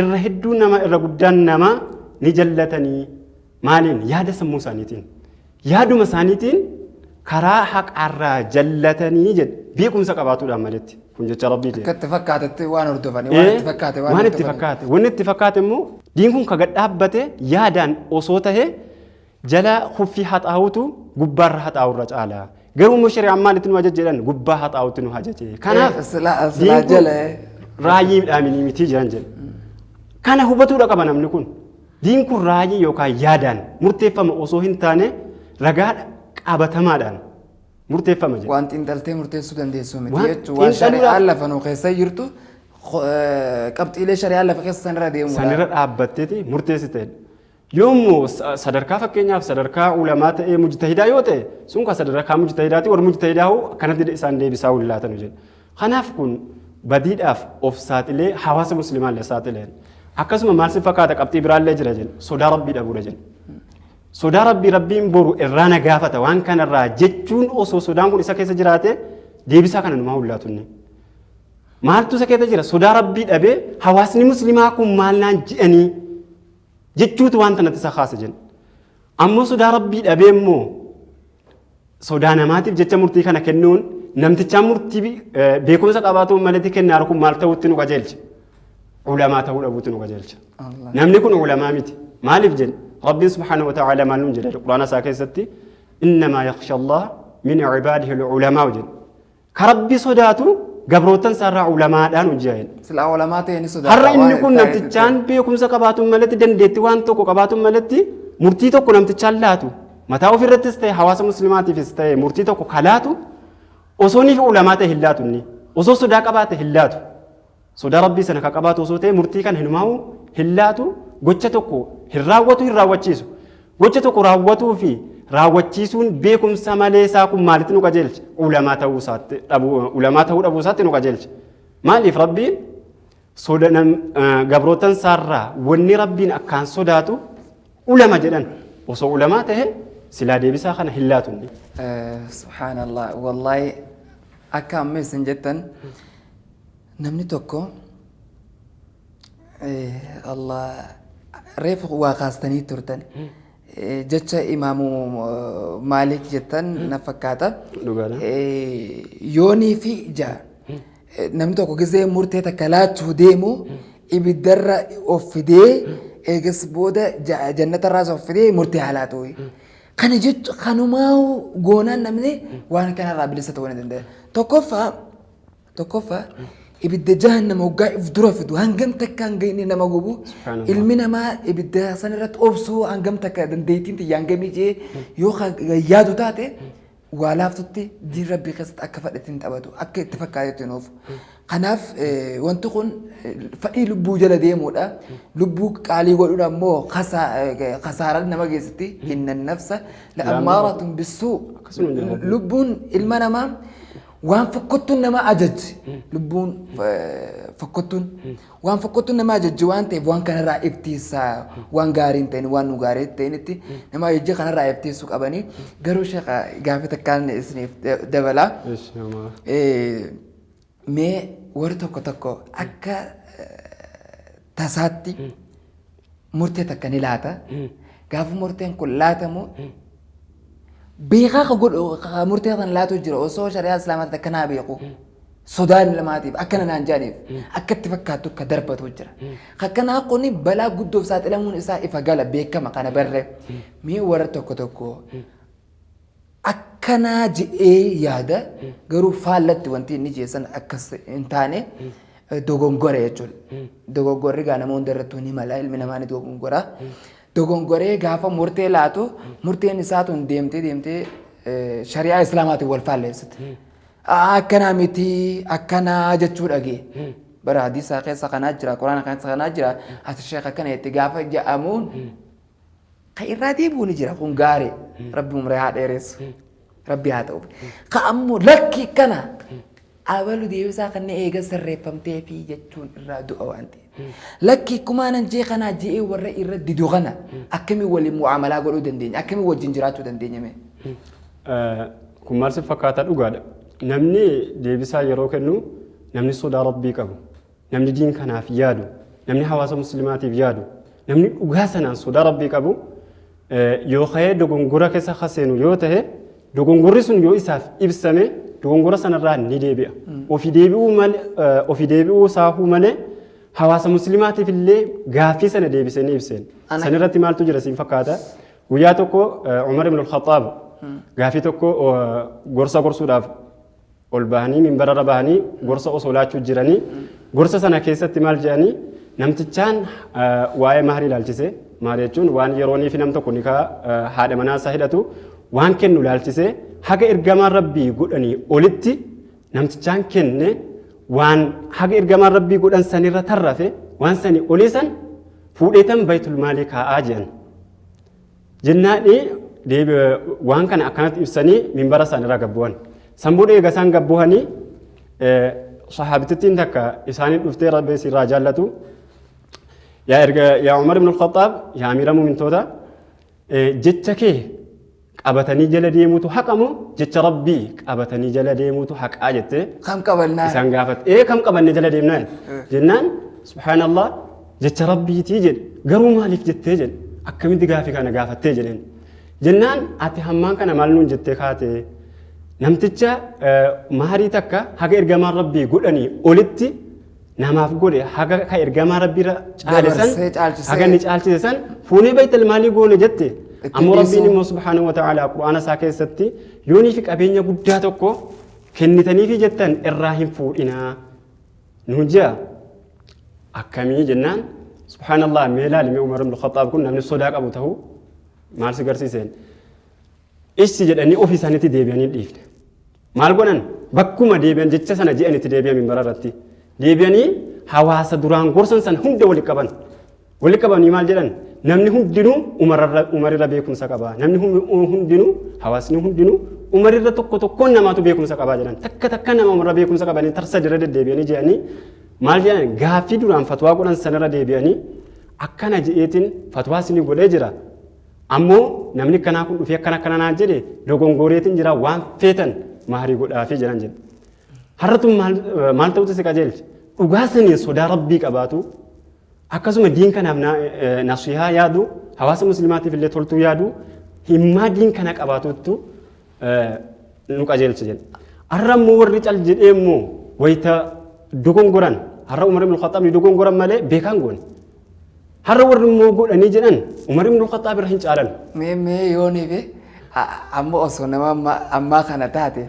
Irra hedduun namaa irra guddaan namaa ni jallatanii maaliin yaada sammuu isaaniitiin yaaduma isaaniitiin karaa haqaarraa jallatanii jedhe beekumsa qabaatuudhaan maletti kun jecha rabbiiti. Akka itti fakkaatetti waan hordofanii waan itti fakkaate waan waan itti hordofanii. fakkaate wanni itti fakkaate immoo diin kun ka gad dhaabbate yaadaan osoo tahe Jalaa khuffii haxaawutu gubbaarra haxaawurra caala. Garuu immoo shari'aan maalitti nu ajaje jedhan gubbaa haxaawutti nu ajaje. Kanaaf Eh, silaa- diin silaa kun jala, eh. raayii midhaaminii mitii jiran jedhe. Kana hubatuudha qaba namni kun. Diin kun raayii yookaan yaadaan murteeffama osoo hin taane ragaa qabatamaadhaan murteeffama jedhe. Waan xiinxaltee murteessuu dandeessu miti Waan jechuun waan xiinxaluudhaaf- shari'aan lafa nu keessa jirtu eh, qabxiilee shari'aan lafa keessa sanirra deemuudha. Sanirra dhaabbatteeti murteessiteedha. Yoommu sadarkaa fakkeenyaaf sadarkaa ulamaa ta'ee mujtahidaa yoo ta'e sun kan sadarkaa mujtahidaati warri mujtahidaa hoo akkanatti isaan deebisaa hin laatanu jedhe. Kanaaf kun badiidhaaf of saaxilee hawaasa muslimaa illee saaxileen. Akkasuma maal si fakkaata qabxii biraallee jira jenna sodaa rabbii dhabuudha jenna. Sodaa rabbii rabbiin boru irraa na gaafata waan kanarraa jechuun osoo sodaan kun isa keessa jiraate deebisaa kana numaa hin laatu inni. Maaltu isa keessa jira sodaa rabbii dhabee hawaasni muslimaa kun maal naan jedhanii jechuutu wanta natti isa kaase jenna. Ammoo sodaa rabbii dhabee immoo sodaa namaatiif jecha murtii kana kennuun namtichaan murtii beekumsa qabaatuun maletti kennaa kun maal ta'utti nu qajeelcha. Ulamaa ta'uu dhabuutti nu qajeelcha. Namni kun ulamaa miti. Maaliif jenna? Rabbiin subhaanahu wa ta'aala maal nuun jedha quraana isaa keessatti innamaa yakhsha Allah min cibaadihi ulamaa jenna. Ka Rabbi sodaatu gabroottan isaarraa ulamaadhaan hojjaa jedhe. Silaa olamaa ta'e ni sodaata. Har'a inni kun namtichaan beekumsa qabaatuun malatti dandeetti waan tokko qabaatuun malatti murtii tokko namtichaan laatu mataa ofirrattis ta'e hawaasa muslimaatiifis ta'e murtii tokko ka laatu osoo ni ulamaa ta'e hin laatu inni osoo sodaa qabaate hin laatu. Sodaa Rabbii sana ka qabaatu osoo ta'e murtii kana hinumaahu hin laatu, gocha tokko hin raawwatu hin raawwachiisu. Gocha tokko raawwatuu fi raawwachiisuun beekumsa malee isaa kun maalitti nu qajeelcha? Ulamaa ta'uu isaatti dhabuu ulamaa ta'uu dhabuu isaatti nu qajeelcha. Maaliif Rabbiin soda nam eh, gabrootan isaarraa wanni Rabbiin akkaan sodaatu ulama jedhan osoo ulamaa ta'e silaa deebisaa kana hin laatu inni. Eh, Subhaanallah. Wallahi akka amma isin jettan Namni tokko Allah reefu waa kaastanii turtan jecha imaamu maalik jettan na fakkaata. Dhugaadha. Yoonii fi ija namni tokko gizee murtee takka laachuu deemu ibiddarra of fidee eegas booda ja- jannatarraas of fidee murtee haa laatu. Kana jechuun kanumaa goonaan namni waan kanarraa bilisa ta'uu ni danda'a. Tokkoffaa Tokkoffaa ibidda jahannama hoggaa if dura fidu hangam takka hanga inni nama gubu Subhaanallah. ilmi namaa ibidda san irratti obsuu hangam takka dandeettiin tiyya hangamii jee yoo ka- yaadu taate waa laaftutti diin rabbii keessatti akka fadhetti hin taphatu akka itti fakkaatetti hin oofu. Kanaaf eh, wanti kun eh, fadhii lubbuu jala deemuudha. Lubbuu qaalii godhuun ammoo kasaa- eh, kasaaraa nama geessitti hinna nafsa la'ammaaratun bissuu Akkasuma jedhama. lubbuun ilma namaa Waan fokkottuun nama ajajje lubbuun eh, fokkottuun waan fokkottuun nama ajajje waan ta'eef waan kanarraa iftiinsaa waan gaarii hin ta'in waan nu gaarii hin ta'initti nama ajajje kanarraa iftiinsuu qabanii garuu shaqa gaafii takkaan isiniif da- dabalaa. Eesh namaa. Eh, mee warri tokko tokko akka eh, tasaatti murtee takka ni laata. Gaafa murteen kun laatamu beekaa ka godhu ka murtee kan laatu jira osoo shari'aa islaamaatti akka naa beeku sodaan ilmaatiif akkana naan jedhaniif akka itti fakkaattu ka darbatu jira. Akkanaa kun balaa guddoof saaxilamuun isaa ifa gala beekama kana barree mee warra tokko tokko akkanaa jedhee yaada garuu faallatti wanti inni jeessan akkas hin taane dogongore jechuudha. Dogongorri gaa nama hunda irrattuu ni mala ilmi namaa ni dogongora. Dogongoree gaafa murtee laatu murteen isaa tun deemtee deemtee shari'aa islaamaatiin wal faalleessite. Akkanaa miti akkanaa jechuu dhagee. Bara hadiisaa keessa kanaa jira quraana keessa kanaa jira ati sheekh akkana itti gaafa ja'amuun Ka irraa deebi'u ni jira kun gaari. Rabbi umrii haa dheeressu. Rabbi haa ta'u. Ka ammoo lakki kana abalu deebisaa kan eega sirreeffamtee fi jechuun irraa du'a waan ta'e. Lakki kumaanan jee kanaa je'ee warra irra didu kana akkamiin waliin mu'aamalaa godhuu dandeenya? Akkamiin wajjin jiraachuu dandeenya mee? Kun maal si fakkaata dhugaadha. Namni deebisaa yeroo kennu namni sodaa Rabbii qabu. Namni diin kanaaf yaadu, namni hawaasa muslimaatiif yaadu, namni dhugaa sanaan sodaa rabbii qabu yoo ka'ee dogongora keessa ka seenu yoo ta'e dogongorri sun yoo isaaf ibsame dogongora sanarraa ni deebi'a. Ofi deebi'uu malee ofi deebi'uu saahuu malee hawaasa muslimaatiif illee gaaffii sana deebisee ni ibseen. Ana- San irratti maaltu jira siin fakkaata? Guyyaa tokko Umar ibn al-Khattaab gaaffii tokko gorsa gorsuudhaaf ol bahanii minbararra bahanii gorsa osoo laachuu jiranii gorsa sana keessatti maal jedhanii namtichaan eh, waa'ee mahrii ilaalchise mahrii jechuun waan yeroonii fi nam tokko nikaa eh, haadha manaa isaa hidhatu waan kennu ilaalchise haga ergamaan rabbii godhanii olitti namtichaan kenne waan haga ergamaan rabbii godhan sanirra tarrafe waan sanii olii san fuudheetan baytul maalii kaa'aa jedhan Jennaani deebi waan kana akkanatti ibsanii minbara san irra gabbu'an. San booda eega isaan gabbu'anii sahaabitittiin takka isaanii dhuftee rabbi si irraa jaallatu. Yaa erga yaa Umar ibn al-Khattaab yaa amiira mu'mintoota jecha kee qabatanii jala deemuutu haqa moo jecha rabbii qabatanii jala deemuutu haqaa jettee Kam qabannaa? isaan gaafate. Ee kam qabannee jala deemnaa? jennaan subhaanallah jecha rabbiitii jedhe garuu maaliif jettee jedhe akkamitti gaafii kana gaafattee jedheen jennaan ati hammaan kana maal nuun jettee kaate namticha eh, maarii takka haga ergamaan rabbii godhanii olitti namaaf godhe haga ka ergamaa rabbiirra caale san Dabarsee, caalchisee. haga inni caalchise san fuunee baytal maalii goone jette Itti ammoo rabbiin dhiisuu. immoo subhaanahu wa ta'aala qur'aana isaa keessatti yoonii fi qabeenya guddaa tokko kennitaniifi jettan irraa hin fuudhinaa nuun jea akkamii jennaan subhaanallah mee laalime umar ibn khaxaab kun namni sodaa qabu ta'uu maal si garsiiseen issi jedhanii ofii isaaniitti deebi'anii dhiifne maal godhan bakkuma deebi'an jecha sana je'an itti deebi'an minbara irratti deebi'anii hawaasa duraan gorsan san hunda walitti qaban Wali qabanii maal jedhan namni hundinuu umarirra beekumsa qaba namni hundinuu hawaasni hundinuu umarirra tokko tokkoon namaatu beekumsa qaba jedhan takka takka nama umarra beekumsa qabanii tarsa dira deddeebi'anii jedhanii maal jedhan gaaffii duraan fatwaa godhan sanarra deebi'anii akkana je'eetiin fatwaa sinii godhee jira ammoo namni kanaa kun dhufee akkana akkana naan jedhe dogongooreetiin jira waan feetan maarii godhaafii jedhan jedhe har'atu maal ta'utu si qajeelche dhugaa saniin sodaa rabbii qabaatu Akkasuma diin kanaaf na- eh, nasihaa yaadu, hawaasa muslimaatiif illee toltuu yaadu, himmaa diin kana qabaatuuttu eh, nu qajeelcha jedhe. Har'a immoo warri cal jedhee immoo wayita dogongoran, har'a Umar ibn Khattaab ni dogongoran malee beekaan goone. Har'a warri immoo godhanii jedhan Umar ibn Khattaab irra hin caalan. mee mee yoonii fi a- amma osoo nama amma- ammaa kana taate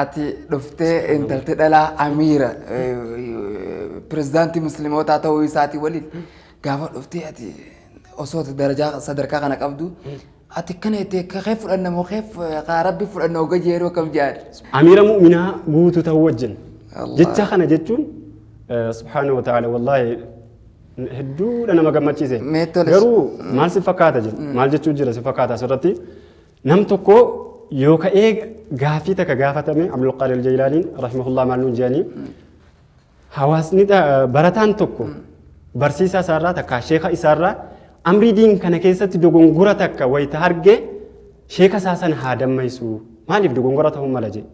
Ati dhuftee intalti dhalaa amiira pirezidaantii muslimootaa ta'uu isaatii waliin gaafa dhuftee ati osoo darajaa sadarkaa kana qabdu ati kana itti kee fudhanna moo kee kaa rabbi fudhanna oga jeeroo kam jaadha. Amiira mu'minaa guutuu ta'uu wajjin. Allah. Jecha kana jechuun eh, subhaanahu wa ta'ala wallaahi hedduudha nama gammachiise. Mee tolis. Garuu maal si fakkaata jedhu maal jechuu jira si fakkaata asirratti Nam tokko yoo ka'ee gaaffii takka gaafatame Abdulqaadir Jaylaaniin rahimahullah maal nuun jedhanii hawaasni ta- barataan tokko barsiisaa isaarraa takka sheeka isaarraa amrii diin kana keessatti dogongora takka wayita arge sheeka isaa sana haa dammaysu maaliif dogongora ta'uu mala jedhe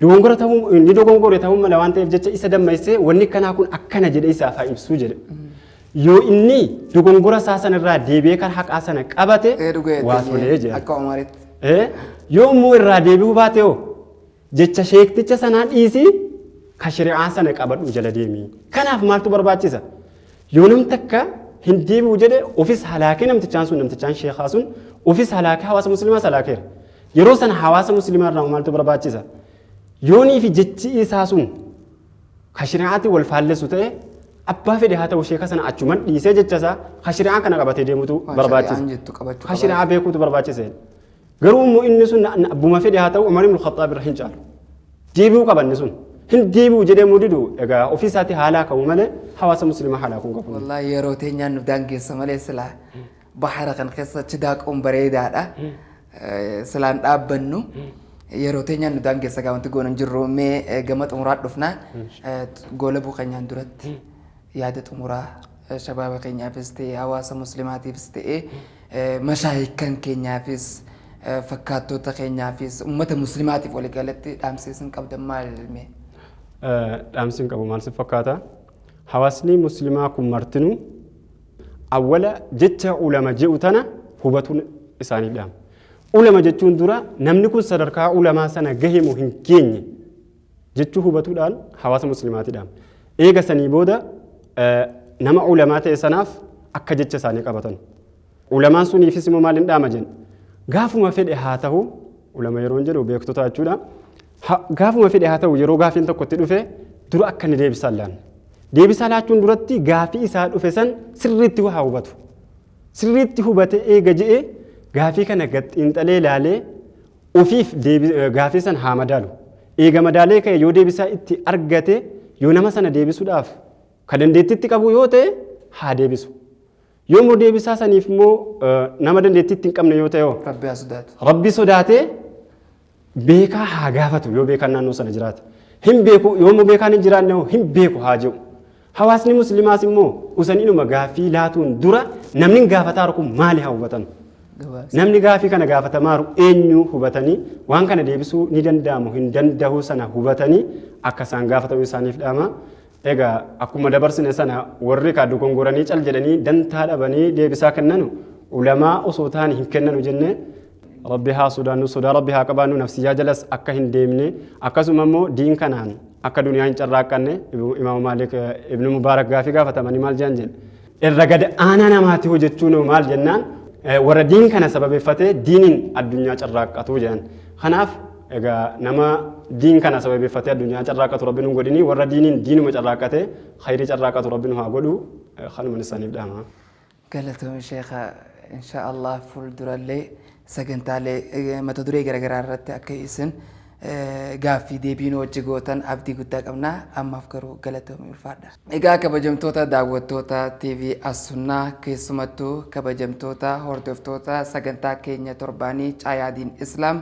Dogongora ta'uu inni dogongore ta'uu mala waan ta'eef jecha isa dammaessee wanni kanaa kun akkana jedhe isaaf haa ibsuu jedhe. Yoo inni dogongora isaa sanarraa deebi'ee kan haqaa sana qabate Ee dhuga waa jettee tolee jedha. akka Omaritti. Eh, Yoo immoo irraa deebi'uu baate hoo jecha sheekticha sanaa dhiisii ka shari'aa sana qabadhu jala deemi. Kanaaf maaltu barbaachisa? Yoo nam takka hin deebi'u jedhe ofis halaakee namtichaan sun namtichaan sheekaa sun ofis halaakee hawaasa muslimaas halaakeera. Yeroo sana hawaasa muslimaa irraa maaltu barbaachisa? Yoonii fi jechi isaa sun ka shari'aatiin wal faallessu ta'e abbaa fedhe haa ta'u sheeka sana achuman dhiisee jecha isaa ka shari'aa kana qabatee deemutu Waan barbaachisa. shari'aan jettu qabachuu Ka qaba. shari'aa beekuutu barbaachisa. Garuu immoo inni sun na- na- abbuma fedhe haa ta'u Umar ibn Khattaab irra hin caalu. Deebi'uu qaba inni sun. Hin deebi'u jedhee immoo didu egaa ofii isaatii haalaa qabu malee hawaasa musliimaa haalaa kun qabu. Wallaahi yeroo teenyaan nu daangeessa malee silaa bahara kan keessa achi daaquun bareedaadha. Eh, Silaan dhaabbannu yeroo teenyaan nu daangeessa gaa wanti goona hin jirru mee eh, gama xumuraa dhufnaa eh, goolabuu keenyaan duratti yaada xumuraa Shabaaba keenyaafis ta'e hawaasa muslimaatiifis ta'e mashaayikkan keenyaafis fakkaattoota keenyaafis ummata muslimaatiif waliigalatti dhaamsi isin qabdan maal mee? Dhaamsi hin qabu maal si fakkaata? Hawaasni muslimaa kun martinuu awwala jecha ulama je'u tana hubatuun isaanii dhaama. Ulama jechuun dura namni kun sadarkaa ulamaa sana gahe moo hin geenye? jechuu hubatuudhaan hawaasa muslimaati dhaamne. Eega sanii booda nama ulamaa ta'e sanaaf akka jecha isaanii qabatan. Ulamaan suniifis immoo maal hin dhaama jenna? Gaafuma fedhe haa ta'u, ulama yeroon jedhu beektota jechuudha. Gaafuma fedhe haa ta'u yeroo gaafiin tokko itti dhufe dura akka inni deebisaa laanne. Deebisaa laachuun duratti gaafii isaa dhufe san sirriitti waa hubatu. Sirriitti hubate eega je'e gaafii kana gad xiinxalee laalee Ofiif gaafii san haa madaalu. Eega madaalee ka'e yoo deebisaa itti argate yoo nama sana deebisuudhaaf ka dandeettiitti qabu yoo ta'e haa deebisu. Yoo immoo deebisaa saniif immoo nama dandeettiitti hin qabne yoo ta'e hoo? Rabbi haa sodaatu. Rabbi sodaatee beekaa haa gaafatu yoo beekaan naannoo sana jiraate. Hin beeku yoo immoo beekaan hin jiraanne hoo hin beeku haa jedhu. Hawaasni muslimaas immoo usaninuma gaaffii laatuun dura namni gaafataaru kun maali haa hubatan. Namni gaaffii kana gaafatamaaru eenyu hubatanii waan kana deebisuu ni danda'amu hin danda'uu sana hubatanii akka isaan gaafatamu isaaniif dhaama. Egaa akkuma dabarsine sana warri kaa dogongoranii cal jedhanii dantaa dhabanii deebisaa kennanu ulamaa osoo taani hin kennanu jennee Rabbi haa sodaannu sodaa rabbi haa qabaannu nafsiyyaa jalas akka hin deemne akkasuma immoo diin kanaan akka duniyaa hin carraaqqanne imaama maalik ibnu mubaarak gaafii gaafatamanii maal jedhan jedhe irra gad aanaa namaati hojjechuun maal jennaan warra diin kana sababeeffatee diiniin addunyaa carraaqqatu jedhan kanaaf egaa nama diin kana sababeeffatee addunyaa carraaqqatu rabbi nu godhini warra diiniin diinuma carraaqqate khayrii carraaqqatu rabbi nu haa godhu kanuman isaaniif dhaama. Galatoomi sheekha inshaa Allah fuuldurallee sagantaalee mata duree garagaraa irratti akka isin gaaffii deebii nu wajji gootan abdii guddaa qabna ammaaf garuu galatoomi ulfaadha. Egaa kabajamtoota daawwattoota TV As Sunnaa keessumattuu kabajamtoota hordoftoota sagantaa keenya torbaanii Caayaa Diin Islaam